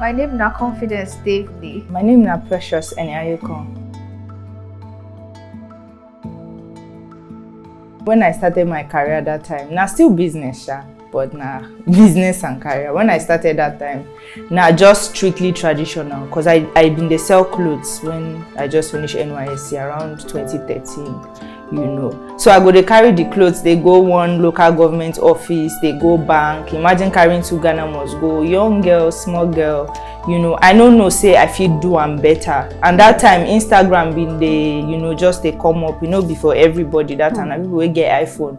My name na Confidence David. My name na Precious Enyayoko. When I started my career that time, na still business sha. but na business and career when i started that time na just strictly traditional because i i been dey sell clothes when i just finish nysc around 2013 you know so i go dey carry the clothes dey go one local government office dey go bank imagine carrying two ghana must go young girl small girl you know i no know say i fit do am better and that time instagram bin dey you know just dey come up you know before everybody that time na people wey get iphone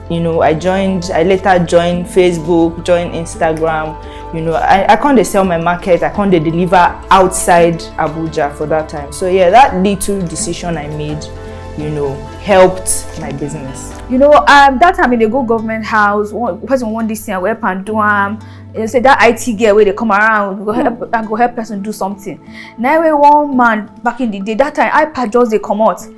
you know i joined i later joined facebook joined instagram you know i, I can't sell my market i can't deliver outside abuja for that time so yeah that little decision i made you know helped my business you know um that time in the go government house one person want this thing i help and do am you say that it girl where they come around go help hmm. and go help person do something Now, one man back in the day that time ipad just they come out.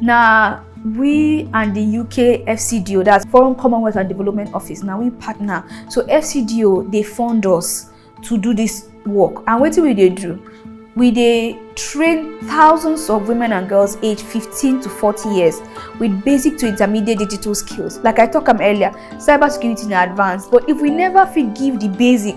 Now, we and the UK FCDO, that's Foreign Commonwealth and Development Office, now we partner. So FCDO, they fund us to do this work. And what do we do? we dey train thousands of women and girls aged 15 to 40 years with basic to intermediate digital skills like i talk am earlier cybersecurity na advanced but if we never fit give the basic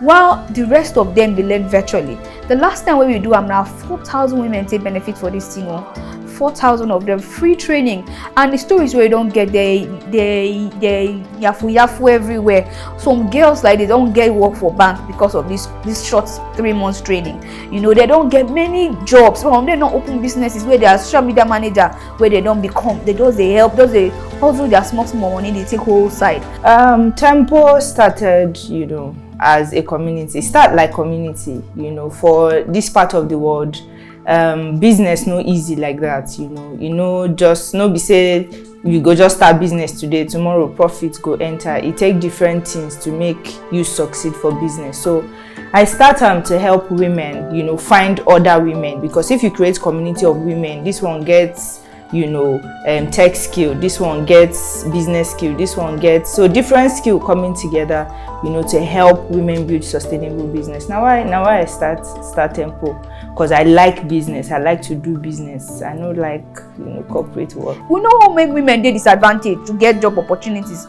while di rest of dem dey learn virtually di last time wey we do am na 4000 women take benefit for dis thing o 4000 of dem free training and di stories wey don get dey dey dey yafu yafu everywhere some girls like dey don get work for bank because of dis dis short three months training you know dey don get many jobs some of dem don open businesses wey their social media manager wey dem don become dem just dey help just dey hustle their small small money dey take whole side. Um, tempo started you know, as a community start like community you know, for this part of the world um, business no easy like that you know you know just no be say you go just start business today tomorrow profit go enter e take different things to make you succeed for business so I start um, to help women, you know, find other women because if you create community of women, this one gets you know um, tech skill this one gets business skill this one gets so different skill coming together you know to help women build sustainable business now i now i start start tempo because i like business i like to do business i know like you know corporate work we know what make women dey disadvantaged to get job opportunities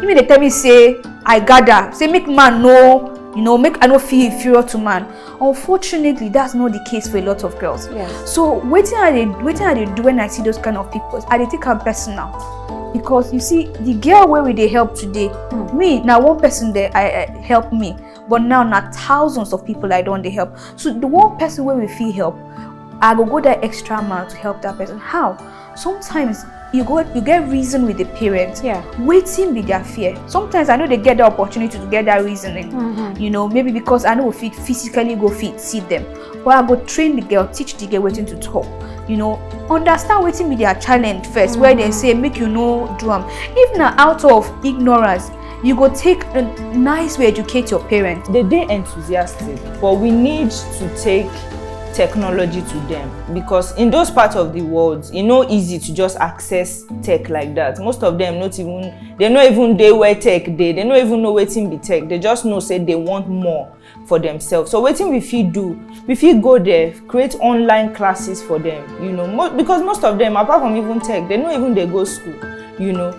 you mean dey tell me say i gather say make man no you know make i no feel inferior to man unfortunately that's not the case for a lot of girls yes. so wetin i dey wetin i dey do when i see those kind of people i dey take am personal because you see the girl wey we dey help today mm. me na one person dey I, I help me but now na thousands of people i don dey help so the one person wey we fit help i go go that extra mile to help that person how sometimes you go you get reason with the parents yeah waiting with their fear sometimes i know they get the opportunity to get that reasoning mm -hmm. you know maybe because i know fit physically go fit see them but i go train the girl teach the girl waiting to talk you know understand waiting with their challenge first mm -hmm. where they mm-hmm. say make you know drum if not out of ignorance you go take a nice way educate your parents they dey enthusiastic but we need to take technology to them because in those parts of the world e no easy to just access tech like that most of them not even they no even dey where tech dey they no even know wetin be tech they just know say they want more for themselves so wetin we fit do we fit go there create online classes for them you know mo because most of them apart from even tech they no even dey go school you know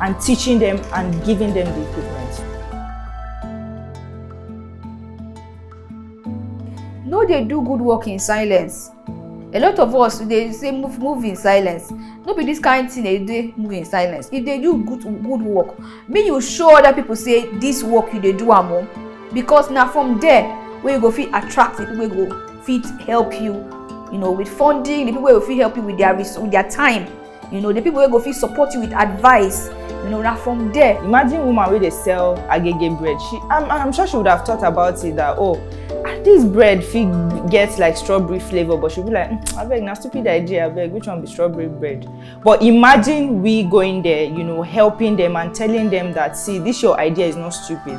and teaching them and giving them the equipment. No they do good work in silence. A lot of us they say move move in silence. No be this kind thing they do move in silence. If they do good good work, make you show other people say this work you they do am o. Because now from there where you go fit attract the people go fit help you you know with funding the people will fit help you with their with their time you know the people wey go fit support you with advice you know na from there. imagine woman wey dey sell agege bread she i'm i'm sure she would have thought about it that oh ah, this bread fit get like strawberry flavour but she be like mm, abeg na stupid idea abeg which one be strawberry bread but imagine we going there you know helping them and telling them that see this your idea is not stupid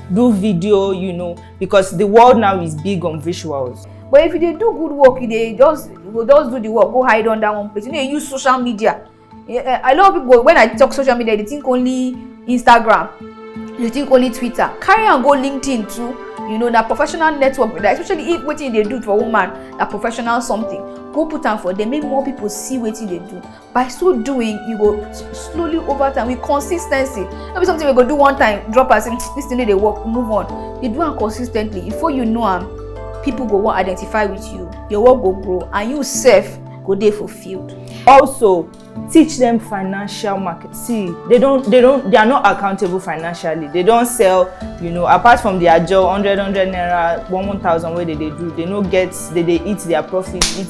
do video you know because the world now is big on visuals but if you dey do good work you dey just you go just do the work go hide under one place you no dey use social media eh, eh, a lot of people when i talk social media they think only instagram they think only twitter carry am go linkedin too you know na professional network be that especially if wetin you dey do for woman na professional something go put am for there make more people see wetin you dey do by so doing you go slowly over time with consistency no be something we go do one time drop as in this thing no dey work move on you do am consistently before you know am people go wan identify with you your work go grow and you sef go dey fulfilled. also teach them financial market see they don they don they are not accountable financially they don sell you know apart from their job hundred hundred naira one one thousand wey they dey do they no get they dey eat their profit eat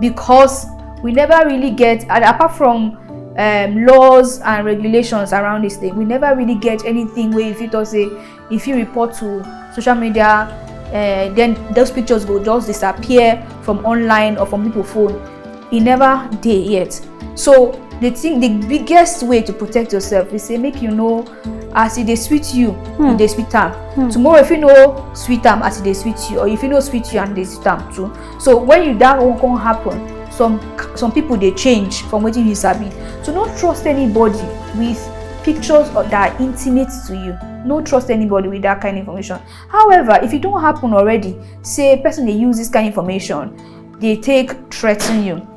because we never really get and apart from um, laws and regulations around this thing we never really get anything where if you talk say if you report to social media uh, then those pictures will just disappear from online or from people phone e never dey yet so the thing the biggest way to protect yourself is say make you know as e dey sweet you hmm. e dey sweet am hmm. tomorrow if you no sweet am as e dey sweet you or if you no sweet you and e dey sweet am too so when you that one come happen some some people dey change from wetin you sabi so no trust anybody with pictures or that are intimate to you no trust anybody with that kind of information however if e don happen already say person dey use this kind of information dey take threaten you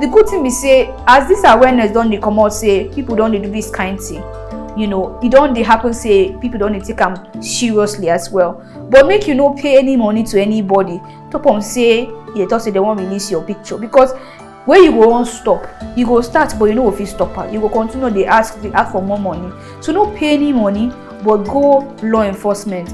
the good thing be say as this awareness don dey comot say people don dey do this kind thing you know e don dey happen say people don dey take am seriously as well but make you no pay any money to anybody top on say you dey talk say they wan release your picture because wey you go wan stop you go start but you no go fit stop am you go continue dey ask dey ask for more money so no pay any money but go law enforcement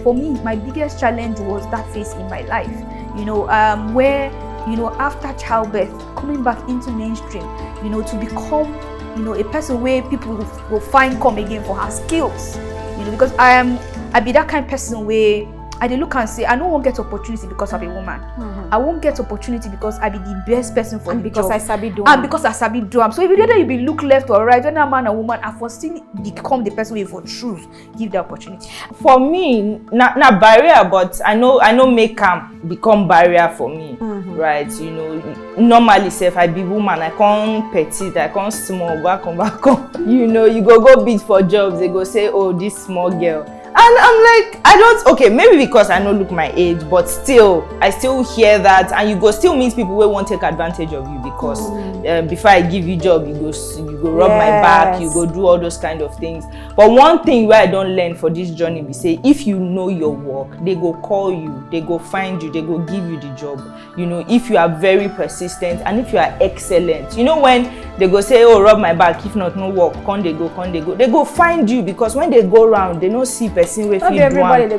For me, my biggest challenge was that phase in my life, you know, um, where, you know, after childbirth, coming back into mainstream, you know, to become, you know, a person where people will find come again for her skills, you know, because I am, I be that kind of person where I dey look and say I no wan get opportunity because I'm a woman. Mm -hmm. I won't get opportunity because I be the best person for and the because job. I sabi do And because I sabi do am. So if you dey there, you be look left or right, whether man or woman, I for still become the person wey for choose. give the opportunity for me na na barrier but i no i no make am become barrier for me mm -hmm. right you know normally sef i be woman i come petite i come small back on back on you know you go go bid for jobs they go say oh this small girl and i'm like i don't okay maybe because i no look my age but still i still hear that and you go still meet people wey wan take advantage of you because mm. uh, before i give you job you go you go rub yes. my back you go do all those kind of things but one thing wey i don learn for this journey be say if you know your work they go call you they go find you they go give you the job you know if you are very persistent and if you are excellent you know when they go say oh rub my back if not no work come they go come they go they go find you because when they go round they no see person wey fit do am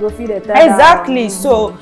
exactly so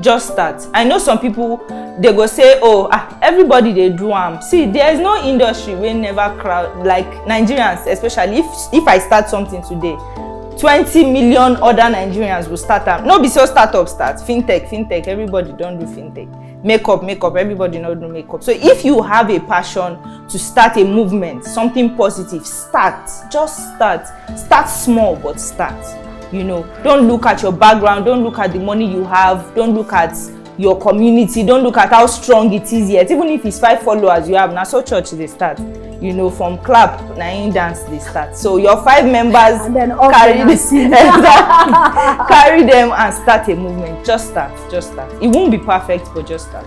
just start i know some people they go say oh ah everybody they do am see there is no industry wey never crowd like nigerians especially if if i start something today twenty million other nigerians will start am no be so startup start fintech fintech everybody don't do fintech makeup makeup everybody no do makeup so if you have a passion to start a movement something positive start just start start small but start you know don't look at your background don't look at the money you have don't look at your community don't look at how strong it is yet even if it's five followers you have na so church dey start you know from clap na im dance dey start so your five members carry carry them and start a movement just start just start it won't be perfect but just start.